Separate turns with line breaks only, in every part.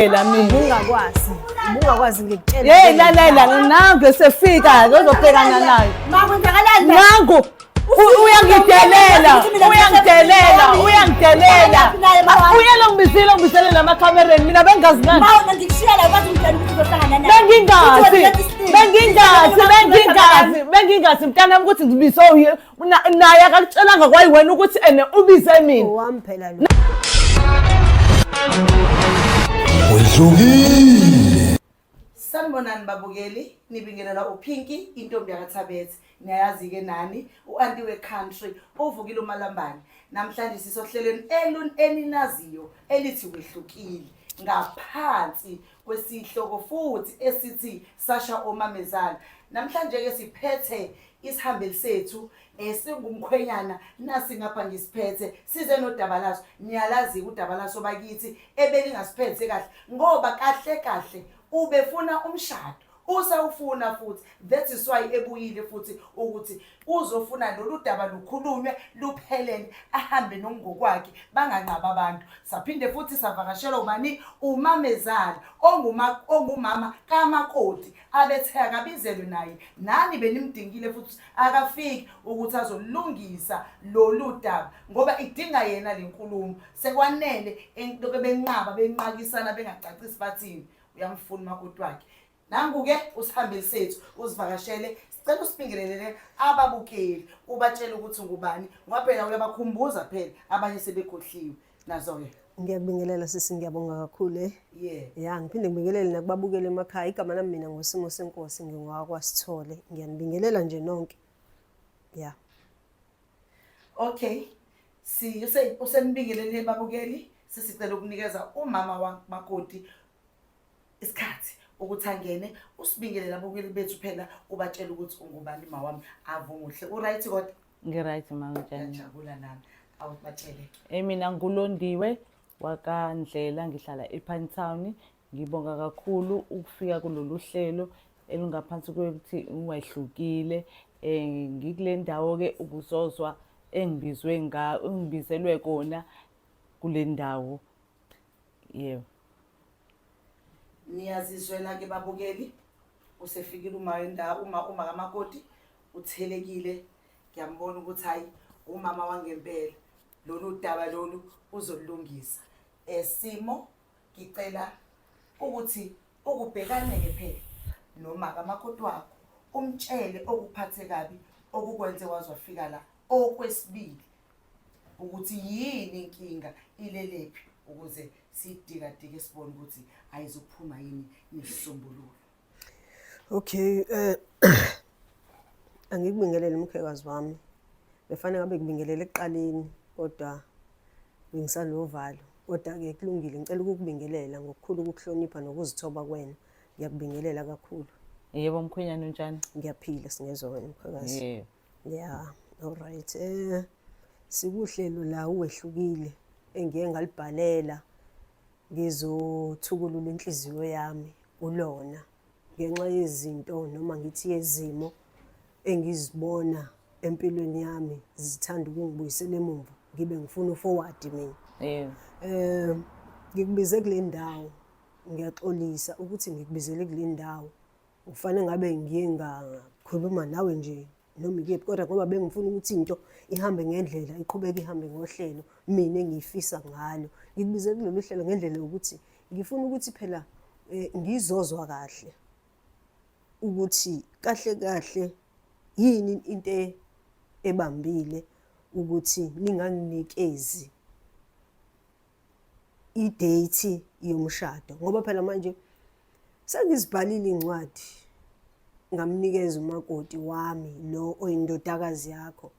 Phela mina. Ubungakwazi.
Ubungakwazi ngikutshela. Hey lalela
nangu esefika ke uzobhekana nayo. Makwenzakalani?
Nangu
uyangidelela uyangidelela uyangidelela uyela ngibizile ngibizele namakhamereni mina bengazi nani
bengingazi bengingazi
bengingazi bengingazi mntanami ukuthi ngibizwe naye akakutshelanga kwayiwena ukuthi ene ubize mina owami phela lo
wedlukile sanibonani
babukeli nibingelela uphinki intombi yakathabethe niyayazi-ke nani u-anti we-country uvukile umalambane namhlanje sisohlelweni elun eninaziyo elithi wehlukile ngaphansi kwesihloko futhi esithi sasha omamezala namhlanje-ke siphethe isihambeli sethu esingumkhwenyana nasi ngapha ngisiphethe size nodaba laso niyalazi-ke udaba laso bakithi ebelingasiphethe kahle ngoba kahle kahle ubefuna umshado usawufuna futhi that is why ebuyile futhi ukuthi uzofuna lolu daba lukhulunywe luphelele ahambe nomngokwakhe banganqaba abantu saphinde futhi savakashelwa ubani umamezala ongumama kamakoti abethe akabizelwe naye nani benimdingile futhi akafiki ukuthi azolungisa lolu daba ngoba idinga yena le nkulumo sekwanele entoke benqaba benqakisana bengacacisi bathini uyamfuna umakoti wakhe nangu-ke usihambeli sethu uzivakashele sicela usibingelelele ababukeli ubatshele ukuthi ngubani ngoba phela uyabakhumbuza phela abanye sebekhohliwe nazo ke ngiyakubingelela sisi
ngiyabonga kakhulu eh yeah ya ngiphinde ngibingelele nakubabukele emakhaya igama lami mina ngosimo senkosi ngingowakwasithole ngiyanibingelela nje nonke ya
okay si usenibingelele babukeli sisicela ukunikeza umama wamakoti isikhathi ukuthi angene usibingelele abukeli bethu phela ubatshela ukuthi ungubani ma wami avunguhle uright kodwa ngiright ma unjani
ngiyajabula nami
awubatshele eh mina
ngulondiwe wakandlela ngihlala epine town ngibonga kakhulu ukufika kulolu hlelo elingaphansi kwekuthi ungehlukile um ngikule ndawo-ke ubuzozwa engibizwe engibizelwe kona kule ndawo yebo
niyazizwela ke babukeli usefikile uma indawo uma uma kamakoti uthelekile ngiyambona ukuthi hayi umama wangempela lolu daba lolu uzolungisa esimo ngicela ukuthi ukubhekane ke phela noma kamakoti wakho umtshele okuphathe kabi okukwenze wazwafika la okwesibili ukuthi yini inkinga ilelephi ukuze sidikadike sibone ukuthi ayizophuma yini nesisombululo
okay eh angikubingelele umkhekazi wami befanele ngabe kubingelele ekuqaleni kodwa bengisanovalo kodwa-ke kulungile ngicela ukukubingelela ngokukhulu ukukuhlonipha nokuzithoba kwena ngiyakubingelela kakhulu yebo mkhwenyana
unjani ngiyaphila singezwa
wena mkhwekazi yebo ya alright eh sikuhlelo la uwehlukile engiye ngalibhalela ngizothukulula inhliziyo yami kulona ngenxa yezinto noma ngithi yezimo engizibona empilweni yami zithanda ukungibuyisela emumva ngibe ngifuna uforward mina yebo eh
ngikubize
kule ndawo ngiyaxolisa ukuthi ngikubizele kule ndawo Ufanele ngabe ngiye ngakhuluma nawe nje noma ikephi kodwa ngoba bengifuna ukuthi into ihambe ngendlela iqhubeke ihambe ngohlelo mina engiyifisa ngalo ngikubize kulolu hlelo ngendlela yokuthi ngifuna ukuthi phela eh, ngizozwa kahle ukuthi kahle kahle yini into ebambile ukuthi ninganginikezi idate yomshado ngoba phela manje sengizibhalile incwadi ngamnikeza umakoti wami lo oyindodakazi yakho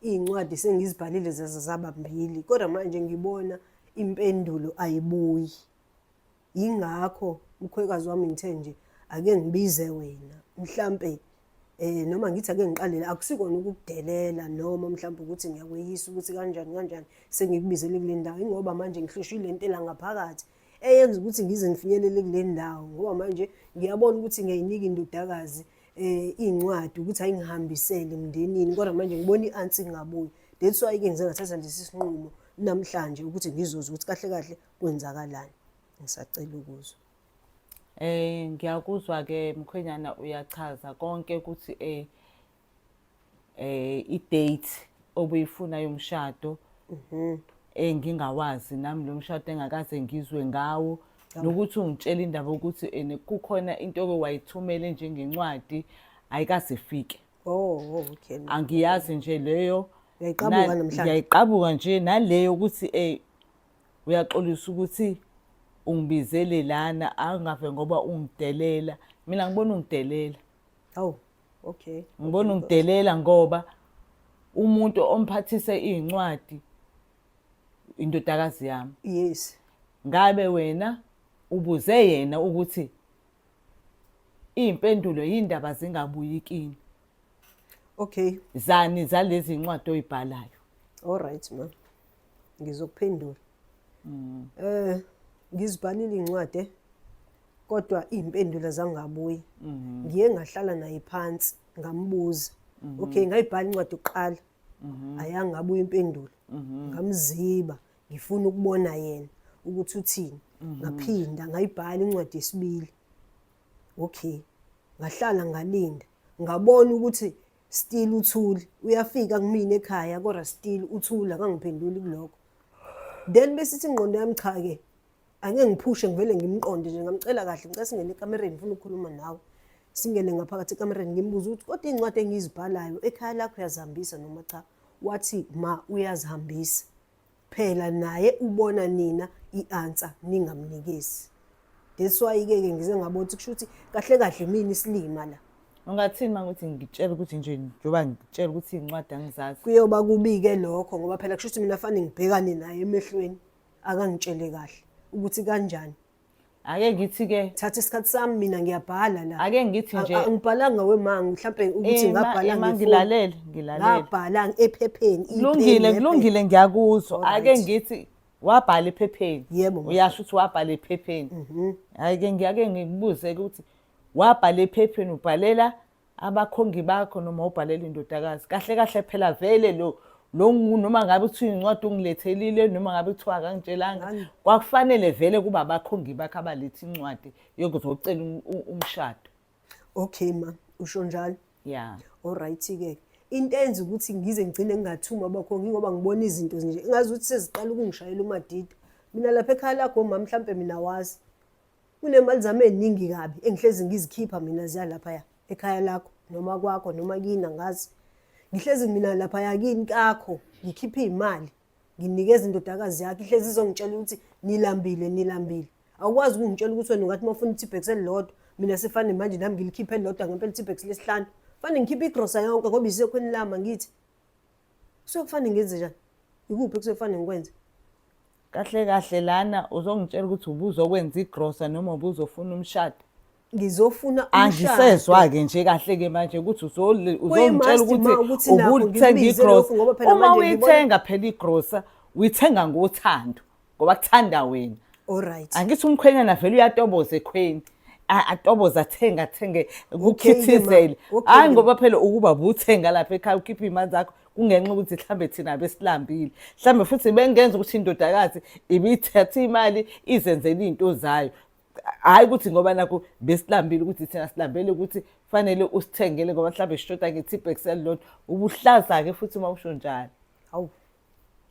iy'ncwadi sengizibhalile zaze zaba mbili kodwa manje ngibona impendulo ayibuyi yingakho mkhwekazi wami ngithe nje ake ngibize wena mhlampe eh noma ngithi ake ngiqalele akusikona ukukudelela noma mhlawumbe ukuthi ngiyakweyisa ukuthi kanjani kanjani sengikubizele kule ndawo ingoba manje ngihlushwe le ntela ngaphakathi eyenza ukuthi ngize ngifinyelele kule ndawo ngoba manje ngiyabona ukuthi ngiyayinika indodakazi eh incwadi ukuthi ayingihambisele emndenini kodwa manje ngibona i-ansi ngabuyi that's why ke ngize ngathatha lesi sinqumo namhlanje ukuthi ngizozwa ukuthi kahle kahle kwenzakalani ngisacela ukuzwa eh ngiyakuzwa
ke mkhwenyana uyachaza konke ukuthi eh eh i-date obuyifuna yomshado mhm engingawazi eh, nami lo mshado engakaze ngizwe ngawo nokuthi ungitshela indaba ukuthi ene eh, kukhona into oke wayithumele njengencwadi ayikaze ifike oh, oh okay
angiyazi nje
leyo yayiqabuka namhlanje
yayiqabuka nje
naleyo ukuthi eh uyaxolisa ukuthi ungibizele lana angave ngoba ungidelela mina ngibona ungidelela awu oh,
okay ngibona
ungidelela ngoba umuntu omphathise izincwadi indodakazi yami yes
ngabe
wena ubuze yena ukuthi impendulo yindaba zingabuyi kini
Okay. Zani
zalezi incwadi oyibhalayo. All right ma.
Ngizokuphendula. Mm. Eh ngizibhalile incwadi eh? kodwa impendulo zangabuyi. Mm. Ngiye ngahlala naye phansi ngambuza. Mm -hmm. Okay ngayibhala incwadi uqala. Mm -hmm. Ayangabuyi impendulo. Mm -hmm. Ngamziba ngifuna ukubona yena ukuthi uthini. Mm -hmm. Ngaphinda ngayibhala incwadi yesibili. Okay. Ngahlala ngalinda. Ngabona ukuthi still uthuli. Uyafika kumina ekhaya kodwa still uthula kangiphenduli kuloko. Then bese ithi ingqondo yami cha ke. Angeke ngiphushe ngivele ngimqonde nje ngamcela kahle ngicela singene ekamereni ngifuna ukukhuluma nawe. Singene ngaphakathi ekamereni ngimbuza ukuthi kodwa incwadi engizibhalayo ekhaya lakho yazihambisa noma cha. Wathi ma uyazihambisa. phela naye ubona nina i-answer ningamnikezi that's why ke ke ngize ngabona ukuthi kusho ukuthi kahle kahle mina isilima la ungathini uma ukuthi
ngitshela ukuthi nje njengoba ngitshela ukuthi iy'ncwadi angizazi kuyoba kubike
lokho ngoba phela kusho ukuthi mina fanele ngibhekane naye emehlweni akangitshele kahle ukuthi kanjani ake ngithi
ke thatha isikhathi sami mina
ngiyabhala la ake ngithi nje
angibhalanga wemangu
mhlambe ukuthi ngabhala ngilalele ngilalele
ngabhala
ephepheni kulungile kulungile
ngiyakuzwa ake ngithi wabhala ephepheni yebo uyasho ukuthi
wabhala
ephepheni mhm. ake ngiyake ngikubuze ukuthi wabhala ephepheni ubhalela abakhongi bakho noma ubhalela indodakazi kahle kahle phela vele lo lo noma ngabe kuthiwa incwadi ungilethelile noma ngabe kuthiwa akangitshelanga kwakufanele vele kuba abakhongi bakho abaletha incwadi yokuzocela um, um, umshado okay
ma usho njalo ya
olright-ke
into enza ukuthi ngize ngigcine ngingathumi abakhongi ngoba ngibona izinto nje ingazi ukuthi seziqala ukungishayela umadida mina lapha ekhaya lakho mama mhlawumpe mina wazi Unemali zami eziningi kabi engihlezi ngizikhipha mina ziya laphaya ekhaya lakho noma kwakho noma kini angazi. Ngihlezi mina laphaya kini kakho ngikhipha izimali nginikeza indodakazi yakhe ihlezi izongitshela ukuthi nilambile nilambile. Awukwazi ukungitshela ukuthi wena ungathi mawufuna i-T-Bex elilodwa mina sifane manje nami ngilikhiphe elilodwa ngempela i-T-Bex lesihlanu. Fane ngikhiphe igrosa yonke ngoba isekhweni lami angithi. kusuke kufanele ngenze njani yikuphi kusuke kufanele ngikwenze kahle
kahle lana uzongitshela ukuthi ubuzokwenza igrosa noma ubuzofuna umshado ngizofuna
angisezwa-ke
nje kahle-ke manje ukuthi uzongitshela ukuthi ubulithenga igrosa uma uyithenga phela igrosa uyithenga ngothando ngoba kuthanda wena Alright. angithi
umkhwenyana vele
uyatoboza ekhweni A- atoboza athenge athenge kukhithizele ma. Okay, hayi ma. ngoba phela ukuba buthenga lapha ekhaya ukhiphe iy'mali zakho kungenxa ukuthi mhlawumbe thina besilambile mhlawumbe futhi bengenza ukuthi indodakazi ibithatha imali izenzele iy'nto zayo hhayi ukuthi ngoba nakho besilambile ukuthi thina silambele ukuthi kufanele usithengele ngoba mhlawumbe sishoda nge-tipex elilodwa ubuhlaza-ke futhi uma usho njalo Hawu.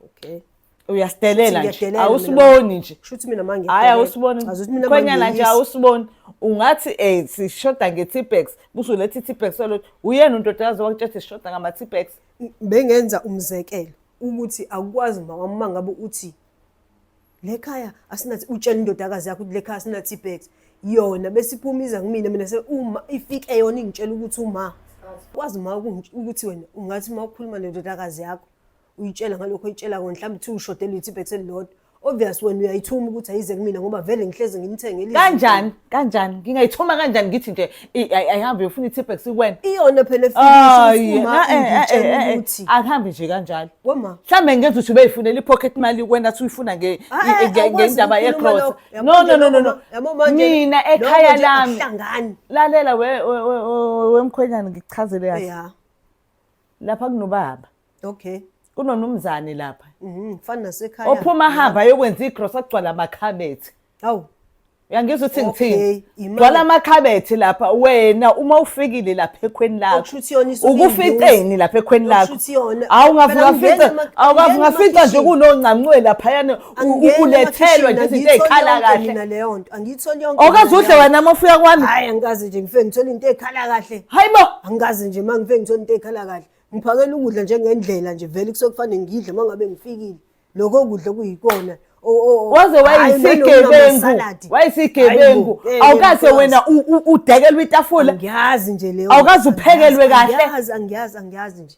okay uyastelela
nje awusiboni nje shuthi mina manje hayi
awusiboni
khwenyana nje awusiboni ungathi eh sishoda nge-tipex kusho lethi i-tipex solo uyena untodakazi wakutshela sishoda ngama-tipex bengenza
umzekelo ukuthi akukwazi mama uma ngabe uthi le khaya asinathi utshela indodakazi yakho ukuthi le khaya asinathi ibags yona besiphuma iza kumina mina se uma ifike yona ingitshela ukuthi uma kwazi uma ukuthi wena ungathi uma ukhuluma nendodakazi yakho uyitshela ngalokho oyitshela kona mhlawumbe kuthiwa ushode lutho ibhethi elilodwa obvious wena uyayithuma ukuthi ayize kumina ngoba vele ngihlezi ngimthengele kanjani kanjani
ngingayithuma kanjani ngithi nje i- ay- ayihambe yofuna i-tipex kuwena iyona phela
Ayi, efikile na- eh, eh, eh, ngitshela eh, eh, ukuthi akuhambe nje kanjalo
wema mhlawumbe ngenza
ukuthi ubeyifunela
i-pocket mali kuwena athi uyifuna nge- Ah, nge- eh, nge- awukwazi ngendaba ukukhuluma yegrosa lokho. no Yabona no no no no lokho, yabo manje, mina lokho ekhaya nje lami akuhlangani. lalela we- we- we- we- wemkhwenyana ngikuchazele kahle ya lapha kunobaba okay
kunonumzane
lapha mhm fana
nasekhaya
ophuma hamba
yokwenza
igross agcwala
amakhabethi
awu uyangizwa ukuthi ngithini gcwala amakhabethi lapha wena uma ufikile lapha ekhweni lakho
ukuficeni lapha ekhweni
lakho awungavuka
fica awungavuka fica
nje kunoncancwe laphayana Angingeni ulethelwe nje amakhishini, izinto angiyitholi ey'khala yonke kahle. mina leyo nto angiyitholi
yonke mina Awukaze udle leyo nto. wena uma ufika
kwami hhayi angikaze nje ngifike
ngithole into ey'khala kahle hayi bo angikaze
nje uma ngifike
ngithole into ey'khala kahle ngiphakela ukudla njengendlela nje vele kusuke kufanele ngidle uma ngabe ngifikile lokho kudla okuyikona o- o- o- waze hhayi,
wayisigebengu nanokunamasaladi. wayisigebengu Hayi bo, eh, awukaze ngiyazi. wena u- u- udekelwe itafula angiyazi nje leyo
Awukaze nto, uphekelwe angiyazi,
kahle? angiyazi angiyazi angiyazi
nje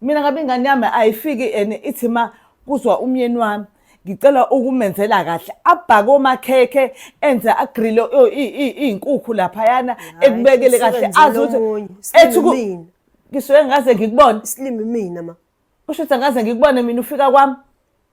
mina ngabe ingane yami ayifiki and ithi ma kuzwa umyeni wami ngicela ukumenzela kahle abhake omakhekhe enze agrile iy'nkukhu laphayana ekubekele kahle azi ukuthi ethi ngisuke ngaze ngikubone isilimi mina ma
usho ukuthi angaze
ngikubone mina ufika kwami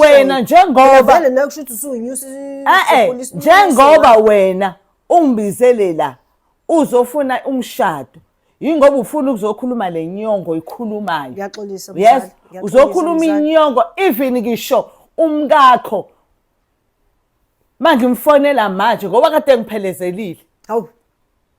wena
njengoba njengoba wena ungibizele la uzofuna umshado yingoba ufuna ukuzokhuluma le nyongo ikhulumayo yes uzokhuluma inyongo even ngisho umkakho mangimfonela manje ngoba kade ngiphelezelile hawu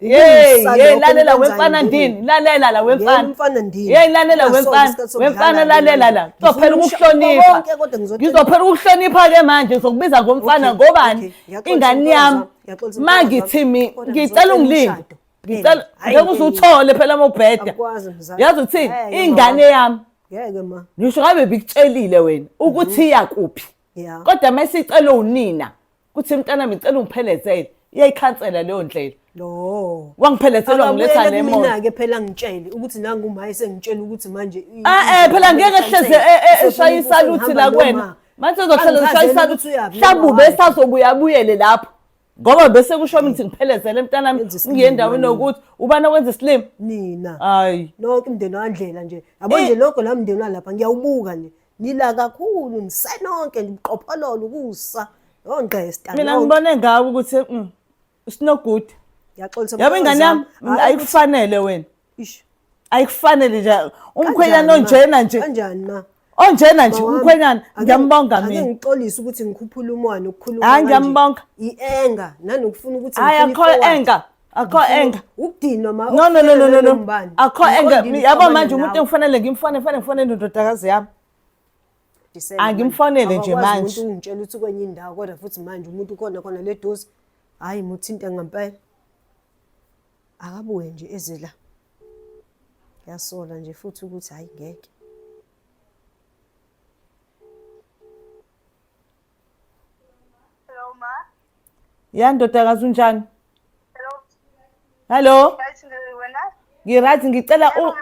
Hey, hey lalela wemfana ndini, lalela la wemfana. Wemfana ndini. Hey lalela wemfana, wemfana lalela la. Ngizophela ukuhlonipha. Ngizophela ukuhlonipha ke manje ngizokubiza ngomfana ngobani? Ingane yami. Mangithi mi ngicela ungilinde. Ngicela ngeke uzuthole phela mobheda. Yazi uthini? Ingane yami. Ngeke ma. Ngisho
ngabe bikutshelile
wena ukuthi iya kuphi. Kodwa mesicela unina. kuthi mntanami ngicela ungiphelezele iyayikhansela leyo ndlela lo
wangiphelezelwa ngiletha
le moto mina-ke phela ngitshele
ukuthi nangumaye sengitshela ukuthi manje eh eh phela ngeke
hleze eh, eh, eshaya isaluthi la kwena manje uzohlala ushaya isaluthi mhlawumbe ubesazobuya abuyele lapho ngoba bese kusho mina ukuthi ngiphelezele mntanami ngiye endaweni yokuthi ubani owenza isilima nina hayi
nonke
umndeni wandlela
nje yabo nje eh. lokho la mndeni walapha ngiyawubuka nje Ngila kakhulu nisenonke ngiqophololo ukusa yongqesta. Mina ngibone ngawe
ukuthi mm, sinogudu. Ngiyaxolisa. Yabo
ingane yami
ayikufanele wena. Ish.
Ayikufanele
nje umkhwenyana onjena nje. Kanjani ma?
onjena nje
umkhwenyana ngiyambonga mina ngixolisa ukuthi
ngikhuphula umwana ukukhuluma hayi ngiyambonga
ienga
nanokufuna ukuthi hayi akho enga
akho enga ukudinwa ma no
no no no no
akho enga yabo manje umuntu engifanele ngimfone fanele ngifone indodakazi yami angimfonele nje manje umuntu ungitshela ukuthi kwenye indawo
kodwa futhi manje umuntu ukhona khona le dosi hhayi muthinte ngempela akabuye nje eze la ngiyasola nje futhi ukuthi hhayi ngeke
Hello ma. Ya ndodakazi unjani? Hello. Hello. Ngirathi ngicela u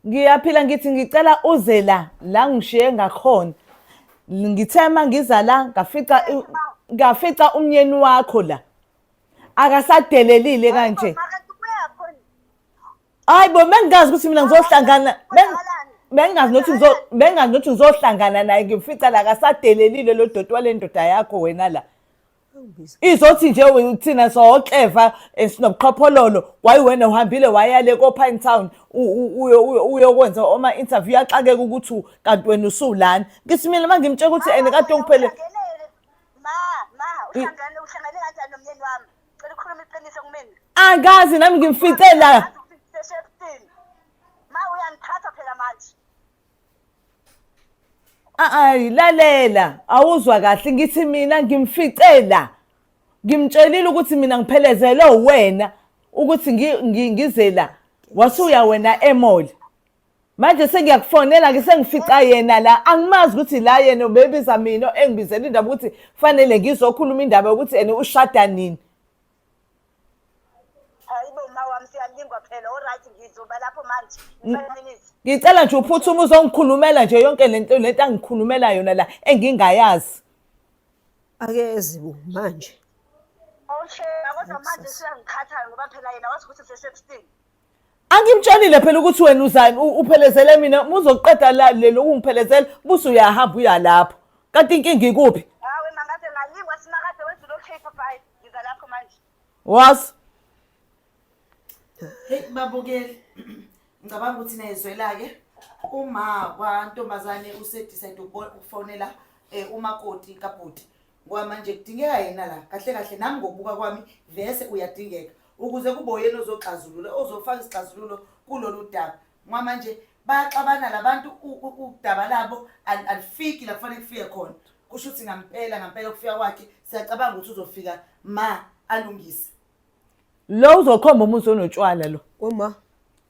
ngiyaphila ngithi ngicela uze la la ngishiye ngakhona. Ngithe uma ngiza la ngafica ngafica umnyeni wakho la. Akasadelelile kanje. hayi bo bengingazi ukuthi mina ngizohlangana ben- bengingazi nokuthi ngizo- bengingazi nokuthi ngizohlangana naye ngimfica la kasadelelile lo doti wale ndoda yakho wena la izothi nje we- thina sokleva sinobuqhophololo wayiwena uhambile wayale kopine town u- u- uyo- uyo- uyokwenza oma-interview yaxakeka ukuthi u- kanti wena usuwulani ngithi mina uma ngimtshela ukuthi ene kade ongiphelele ma ma uhlangane
uhlangane kanjani nomyeni wami Cela ukhuluma iqiniso kumina. Angazi
nami ngimfice
la. Ma
uyangithatha phela manje. Ayi lalela awuzwa kahle ngithi mina ngimfice la. Ngimtshelile ukuthi mina ngiphelezelwe wena ukuthi ngize la. Wasuya wena emall. manje sengiyakufonela-ke sengifica yena la angimazi ukuthi la yena ubebiza mina engibizela indaba ukuthi kufanele ngizokhuluma indaba yokuthi ene ushada nini
ngicela nje uphuthuma
uzongikhulumela nje yonke lento lento angikhulumela yona la engingayazi
akezi bo manje okay kodwa manje siyangikhathala
ngoba phela yena wathi ukuthi sesexting angimtshelile
phela ukuthi wena uzani uphelezele mina uma uzoqeda la le lokungiphelezela busu uyahamba uya lapho kanti inkinga ikuphi hawe mangaze ngayingwa
simakade wenza lo cake bye ngiza lapho manje was
hey babukeli ngicabanga ukuthi nezwelake uma kwantombazane usedecide ukufonela eh, umakoti kabhuti ngoba manje kudingeka yena la kahle kahle nami ngokubuka kwami vese uyadingeka ukuze kube uyena ozoxazulula ozofaka isixazululo kulolu daba ngoba manje bayaxabana labantu u- u- udaba labo al- alifiki la kufanele kufike khona kusho ukuthi ngampela ngampela ukufika kwakhe siyacabanga ukuthi uzofika ma alungise
lo uzokhomba umusa onotshwala lo Uma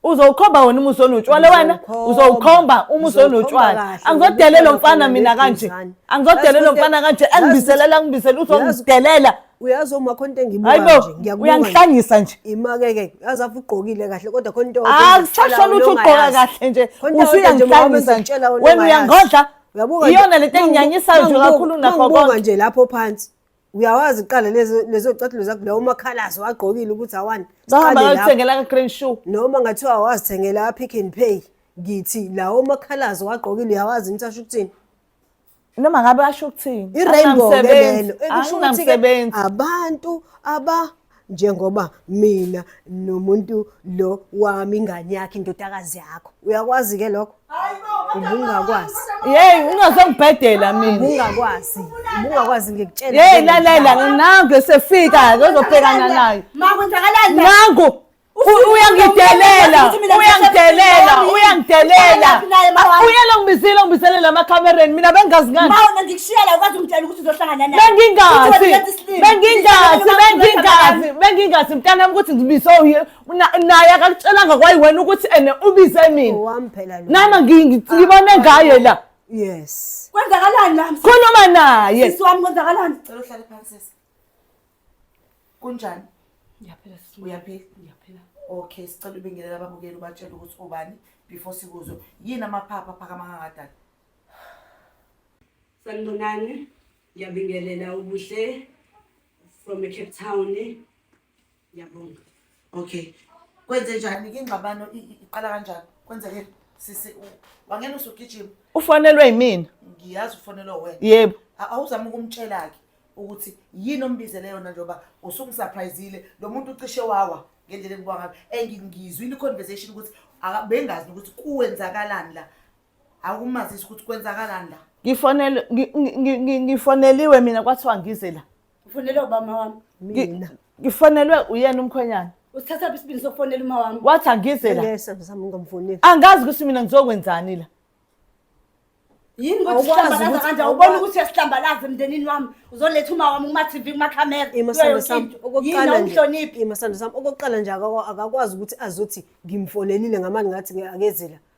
uzowukhomba
wena umusa onotshwala wena Ngizowukhomba. uzowukhomba umusa Ngizowukhomba onotshwala kahle, angizodelela ngizowukhomba mfana kahle mina kanje ngeduzane. angizodelela Yazi mfana ukuthi- kanje yazi engibiselela ukuthi- ngibiselela yazi- uzongidelela uyazi uma khona
into engibuka hayi bo nje ngiyakubuka nje. uyangihlanyisa nje
imake ke yazi afu
ugqokile kahle kodwa khona into akusasho lutho ugqoka
kahle nje usuyangihlanyisa nje wena uyangodla iyona lento
enginyanyisayo
nje kakhulu nakho konke nje lapho phansi
uyawazi kuqala lezo catulo zakho lawo umakhalazi wagqokile ukuthi awani bahambathengela
ka-green shoe noma ngathiwa
wazithengela apick and pay ngithi lawo umakhalazi wagqokile uyawazi ukuthi asho ukuthini noma
ngabe asho ukuthini i-rainbow lelo
ekusho ukuthi abantu aba njengoba mina nomuntu lo wami ingane yakhe indodakazi yakho uyakwazi ke lokho ubungakwazi yeyi
ungazongibhedela mina ubungakwazi ubungakwazi
ngikutshela yeyi lalela
nangu esefika-ke ozobhekana nayo
nangu
uyangidelela uyangidelela uyangidelela uyela ngibizile ngibizelela amakhamereni mina bengazi ngani
bengingazi bengingazi
bengingazi bengingazi mntanami ukuthi ngibize naye akakutshelanga kwayi wena ukuthi ene ubize mina nama
ngibone ah, ngaye la yes
kwenzakalani la
khuluma naye
sisi wami kwenzakalani
cela uhlale phansi
kunjani ngiyaphila sisi
uyaphila ngiyaphila
okay sicela ubingelela ababukeli ubatshela ukuthi ubani before sikuzwe yini amaphapha phakama kangadala
sanibonani ngiyabingelela ubuhle from cape town ngiyabonga
okay kwenze njani ke ingxabano i- i- iqala kanjani kwenzeke sisi u- wangena usugijima ufanelwe yimina
ngiyazi ufonelwa
wena yebo A- awuzama
ukumtshela-ke
ukuthi yini ombizele yona njengoba usungisurprisile lo muntu ucishe wawa ngendlela engibwa ngayo and ngizwile i-conversation ukuthi aka- bengazi nokuthi kuwenzakalani la awukumazisi ukuthi kwenzakalani la ngifonelwe ngi- ngi- ngi- ngi-
ngifoneliwe mina kwathiwa ngize la Ufonele ubama
wami. Mina.
Ngifonelwe
uyena umkhwenyana. Usithatha phi isibindi
sokufonela uma wami? Wathi angize la. Ngeke
sami ngamfoneli.
Angazi ukuthi mina
ngizokwenzani la.
Yini ukuthi sihlambalaza kanje awubona ukuthi
uyasihlambalaza
emndenini wami uzoletha uma wami kuma TV kuma camera imasando sami
okokuqala
umhloniphi
imasando sami
okokuqala
nje akakwazi ukuthi azothi ngimfonelile ngamani ngathi akezela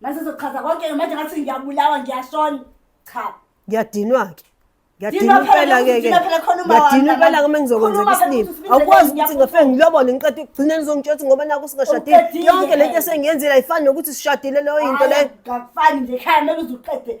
Mase sochaza konke manje ngathi ngiyabulawa ngiyashona. Cha. Ngiyadinwa
ke. Ngiyadinwa impela ke
ke.
Ngiyadinwa
impela ke mengizokwenzeka
isilima. Awukwazi
ukuthi ngafike ngilobole
ngiqede
ukugcina
nizongitshela ukuthi ngoba naku singashadile. Yonke lento
esengiyenzile
ayifani
nokuthi
sishadile leyo into leyo. Ngafani nje khaya mele
uzuqede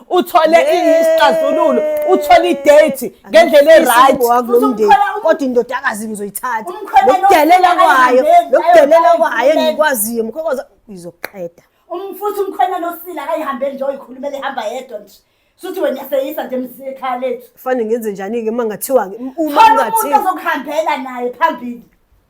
uthole isixazululo uthole idate ngendlela e-right
kodwa indodakazi ngizoyithatha lokudelela
kwayo lokudelela
kwayo
engikwaziyo
mkhokoza ngizoqeda umfuthi umkhwenya
nosila akayihambeli nje oyikhulumela ihamba yedwa nje suthi wena yaseyisa nje msekhaya lethu kufanele ngenze njani-ke
uma ngathiwa-ke uma ngathiwa umuntu
ozokuhambela
naye
phambili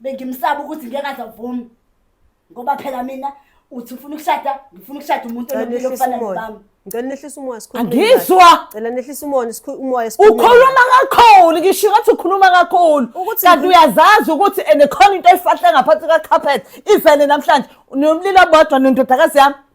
bengimsaba ukuthi ngeke azavumi ngoba phela mina uthi ufuna ukushada ngifuna ukushada umuntu onempilo
okufana
nobami
ngicela
nehlisa
umoya
sikhuluma
angizwa ngicela
nehlisa umoya
sikhuluma umoya sikhuluma ukhuluma kakhulu
ngisho ukuthi ukhuluma kakhulu kanti uyazazi ukuthi enekhona into efahle ngaphansi ka carpet ivele namhlanje nomlilo bodwa nendodakazi yami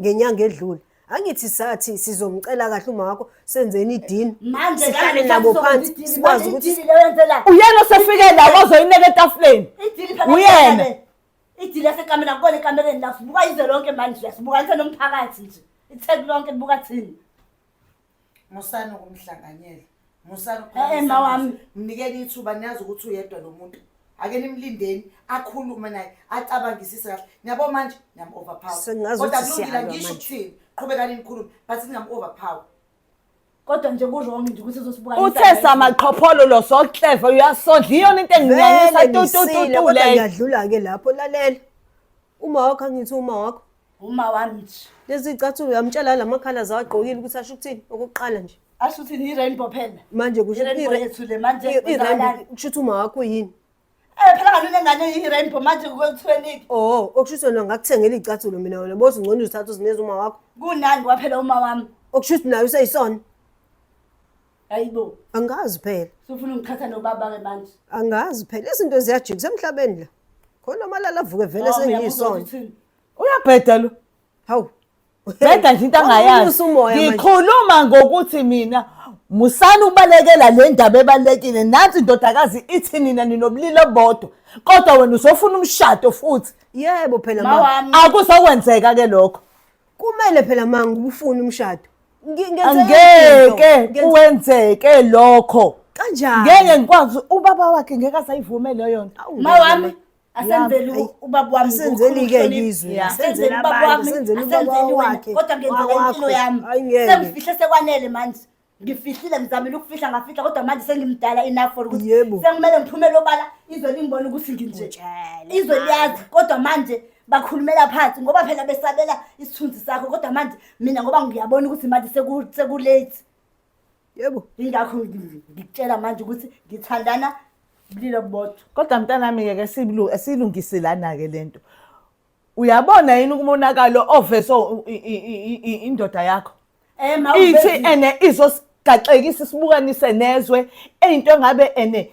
ngenyanga edlule angithi sathi sizomcela kahle uma wakho senzeni idini Manje sihlale ngani nabo
sasizokwenza phansi
idili? sikwazi Manje ukuthi idili leyo yenzela- uyena
osefike la
wazoyineka etafuleni idili phakathi Uyena.
kwakhe.
idili
yasekamela kubona ekamereni la sibuka izwe lonke manje la sibukanise nomphakathi nje itheku lonke libuka thina
musani ukumhlanganyela musani ema wami
mnikeni ithuba
niyazi ukuthi uyedwa lo muntu ake nimlindeni akhulume naye acabangisise kahle niyabo manje niyam-overpower kodwa kulungile
ngisho
ukuthini
qhubekani
nikhulume but ningam-overpower
kodwa nje ku-wrong nje ukuthi uzosibuka uthe samaqhopholo
lo sokleva uyasodla iyona into enginyanyisa tutututu
leyo yadlula-ke lapho lalela uma wakho angithi uma wakho Uma
wami nje. Lezi icathulo uyamtshela
la makhala zawagqokile ukuthi asho ukuthini okokuqala nje. Asho ukuthi ni rainbow
phela. Manje kusho
i-rainbow
yethu le manje uzalani? Kusho ukuthi
uma wakho yini? Eh phela kanti
unengane i-rainbow manje kwekuthiweniki. Oh, okusho ukuthi wena
ngakuthengela icathulo mina wena bothi ngcono uzithatha uzineza uma wakho. Kunani kwaphela uma
wami. Okusho ukuthi nayo useyisona.
Hayibo.
Angazi
phela. Sufuna ungithatha
nobaba ke manje. Angazi phela izinto
ziyajikisa emhlabeni la. Khona amalala avuke vele oh, sengiyisona.
uyabheda lo
hawu
bheda nje
into angayazi ngikhuluma
ngokuthi
mina musani ubalekela le ndaba ebalulekile nansi indodakazi ithi nina ninobulili obodwa kodwa wena usofuna umshado
futhi
yebo phela ma akuzokwenzeka ke lokho
kumele phela ma ngikufuna umshado ngeke
kuwenzeke lokho kanjani ngeke
ngikwazi
ubaba wakhe ngeke asayivume leyo nto mawami
asenzeli Yami, u- ubaba wami asenzeli ngokukhulu ke ukuhlonipha. izwe,
Yeah. asenzeli Asenzeli ubaba abantu, wami
asenzeli ubaba asenzeli wena wakhe,
kodwa ngenzela wakwakho. impilo
yami Hayi, ngeke. sengifihle sekwanele manje ngifihlile ngizamile ukufihla ngafihla kodwa manje sengimdala enough for ukuthi Yebo. sekumele ngiphumele obala izwe lingibona ukuthi nginje Utshele, izwe liyazi kodwa manje bakhulumela phansi ngoba phela besabela isithunzi sakho kodwa manje mina ngoba ngiyabona ukuthi manje seku- sekulate
yebo ingakho ngi-
ngikutshela manje ukuthi ngithandana bulilo bodwa kodwa mntanami-ke ke
siyilu- siyilungise lana-ke le nto uyabona yini umonakalo ovese u- i- i- i- i- indoda yakho Eh, ma, ithi ubezile. ene izosigaxekisa isibukanise nezwe eyinto engabe ene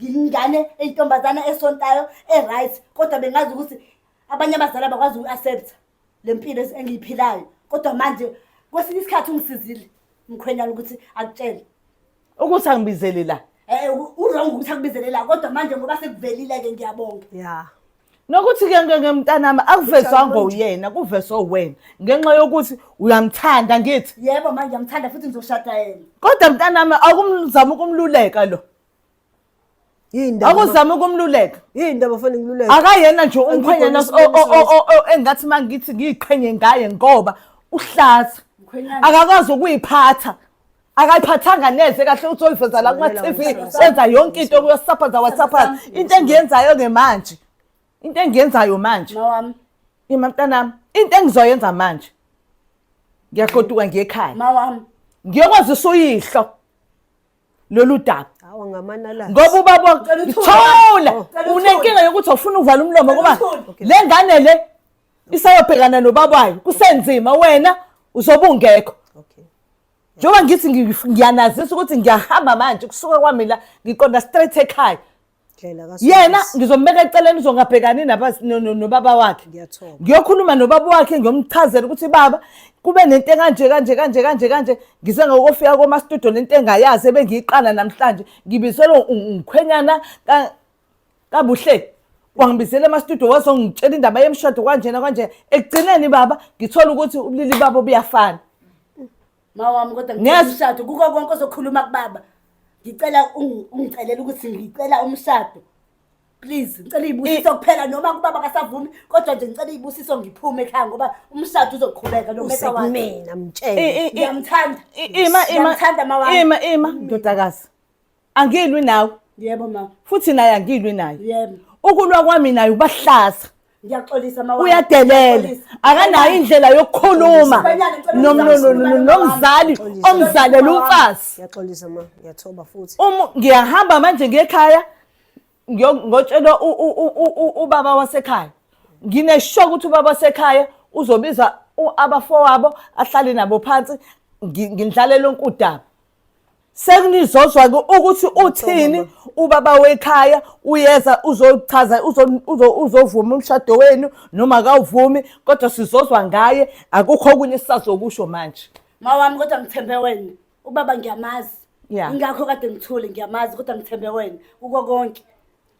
ngiyingane eyintombazana esontayo e-right kodwa bengazi ukuthi abanye abazali abakwazi uku-accepta le mpilo engiyiphilayo kodwa manje kwesinye isikhathi ungisizile umkhwenyana ukuthi akutshele ukuthi
angibizele la um urong ukuthi
akubizele la kodwa manje ngoba sekuvelile-ke ngiyabonga ya
nokuthi-ke
ngemntanami akuvezwanga uyena kuvezwe wena ngenxa yokuthi uyamthanda ngithi yebo manje ngiyamthanda futhi
ngizoshada yena kodwa mntanami
akumzama ukumluleka lo akuzama ukumluleka yini ndaba fana ngiluleka
akayena nje
umkhwenyana engathi uma ngithi ngiyiqhenye ngaye ngoba uhlaza akakwazi ukuyiphatha akayiphathanga neze kahle uthi oyiveza la kuma-tv wenza yonke into kuyosaphaza wasaphaza into engiyenzayo-ke manje into engiyenzayo manje ima
mntanami
into engizoyenza manje ngiyagoduka ngiyekhaya
ngiyokwazisa
uyihlo lolu daba hawa ngamanalasi
ngoba ubaba Cela
uthule. thola Oh, cela uthule. unenkinga yokuthi awufuna ukuvala umlomo ngoba uthule. le ngane le isayobhekana nobaba wayo kusenzima wena uzobe ungekho okay
njengoba ngithi
ngi- ngiyanazisa ukuthi ngiyahamba manje kusuka kwami la ngiqonda straight ekhaya yena ngizombeka eceleni uzongabhekani nobaba wakhe ngiyokhuluma
nobaba wakhe
ngiyomchazela ukuthi baba kube nento ekanje kanje kanje kanje kanje ngise ngokofika komastudio lento engayazi ebengiyiqala namhlanje ngibizelwe ngikhwenyana kabuhle wangibizela emastudio wazongitshela indaba yemshado kwanjena kwanjena ekugcineni baba ngithola ukuthi ubulili babo buyafana Ma
wami kodwa ngicela Ngiyaz- umshado kuko konke ozokhuluma kubaba. Ngicela ungi- ungicelele ukuthi ngicela umshado. Please, ngicela izibusiso kuphela noma kubaba kasavumi kodwa nje ngicela izibusiso ngiphume ekhaya ngoba umshado uzoqhubeka no matter what. usekumina mtshele I- i- i-
Ngiyamthanda.
i- ima ima Ngiyamthanda ma wami. ima
ima ndodakazi angilwi nawe yebo ma
futhi naye angilwi
naye yebo ukulwa
kwami naye
ubahlaza ngiyaxolisa ma
uyadelela
akanayo indlela yokukhuluma nomzali omzalela umfazi ngiyaxolisa ma ngiyathoba futhi
uma ngiyahamba manje
ngekhaya ngiyotshela ubaba wasekhaya nginesho ukuthi ubaba wasekhaya uzobiza abafowabo ahlale nabo phansi ngindlalele onkudaba sekunizozwa-ke ukuthi uthini ubaba wekhaya uyeza uzochaza uzovuma umshado wenu noma kawuvumi kodwa sizozwa ngaye akukho okunye sisazokusho manje mawami kodwa ngithembe
wena ubaba ngiyamazi ingakho
kade ngithule
ngiyamazi kodwa ngithembe wena kuko konke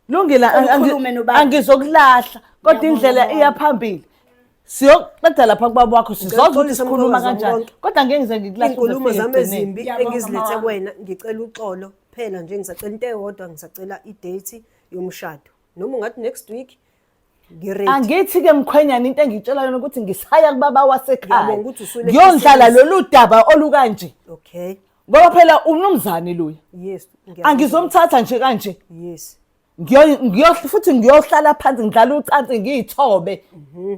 Lungile Ngicela
angi- ukhulume nobaba. angizokulahla kodwa indlela iya phambili. Siyoqeda lapha kubaba wakho sizozwa ukuthi Ngiyaxolisa sikhuluma mkhulukazi wami kanjani. konke. Kodwa ngeke ngize ngikulahle uze iy'nkulumo ufike zami ekugcineni. ezimbi
Ngiyabonga, engizilethe mama. kuwena ngicela uxolo phela nje ngisacela into eyodwa ngisacela idate yomshado noma ungathi next week angithi-ke
mkhwenyana into engiyitshela yona ukuthi ngisaya kubaba wasekhaya ngiyondlala
lolu daba
olukanje okay ngoba
phela
umnumzane luya yes
angizomthatha
nje kanje yes
ngiyo
futhi ngiyohlala phansi ngidlala ucansi ngiyithobe mhm.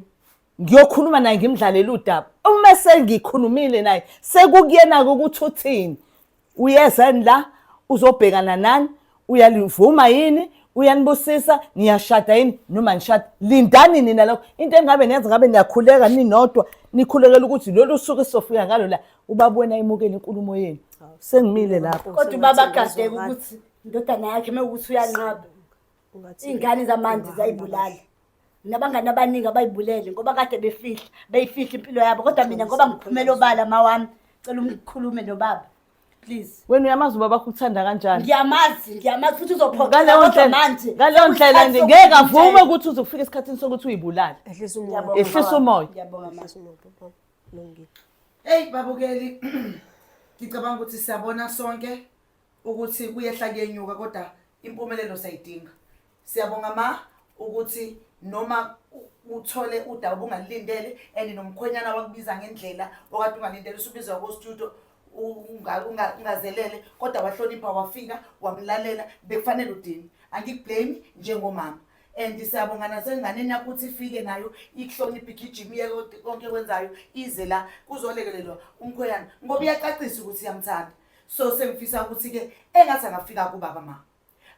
ngiyokhuluma naye ngimdlalele udaba uma sengikhulumile naye sekukuyena-ke ukuthi uthini uyeza la uzobhekana nani uyalivuma yini uyanibusisa niyashada yini noma nishada lindani nina lokho into engabe niyenza ngabe niyakhuleka ninodwa nikhulekela ukuthi lolu suku esizofika ngalo la ubabona emukele inkulumo yenu sengimile lapho kodwa ubaba agadeke
ukuthi indodana yakhe uma ukuthi uyanqaba
iy'ngane zamanje
zayibulala nabangani abaningi abayibulele ngoba kade befihla beyifihla impilo yabo kodwa mina ngoba ngiphumela obala ma wami cela ungikhulume nobaba please wena uyamazi ubaba
kuthanda kanjani ngiyamazi ngiyamazi futhi
uzophoqela manje
ngaleyo ndlela nje ngeke avume ukuthi uzokufika esikhathini sokuthi uyibulale ehlisa umoya ehlisa
umoya ngiyabonga
manje
hey
babukeli ngicabanga ukuthi siyabona sonke ukuthi kuyehla kuyenyuka kodwa impumelelo sayidinga siyabonga ma ukuthi noma uthole udaba obungalilindele and nomkhwenyana wakubiza ngendlela okade ungalindele usubizwa kostudio ungazelele kodwa wahlonipha wafika wamlalela bekufanele udini angikublame njengomama and siyabonga nasenganeni yakho ukuthi ifike nayo ikuhloniphe igijima iye konke kwenzayo ize la kuzolekelelwa umkhwenyana ngoba iyacacisa ukuthi iyamthanda so sengifisa ukuthi-ke engathi angafika kubaba ma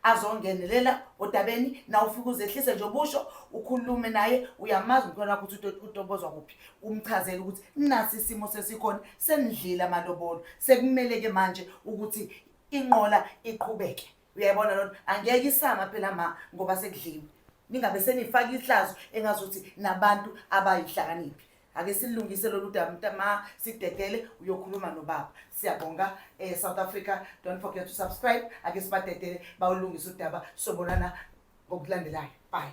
azongenelela odabeni na ufike uzehlise nje obusho ukhulume naye uyamazi umkhona wakho ukuthi utobozwa kuphi umchazele ukuthi nasi isimo sesikhona senidlile amalobolo sekumele-ke manje ukuthi inqola iqhubeke uyayibona lona angeke isama phela ma ngoba sekudliwe ningabe senifaka ihlazo engazuthi nabantu abayihlakaniphi ake silungise lolu daba mntama sidedele uyokhuluma nobaba siyabonga eh, south africa don't forget to subscribe ake sibadedele bawulungise udaba sobonana ngokulandelayo bye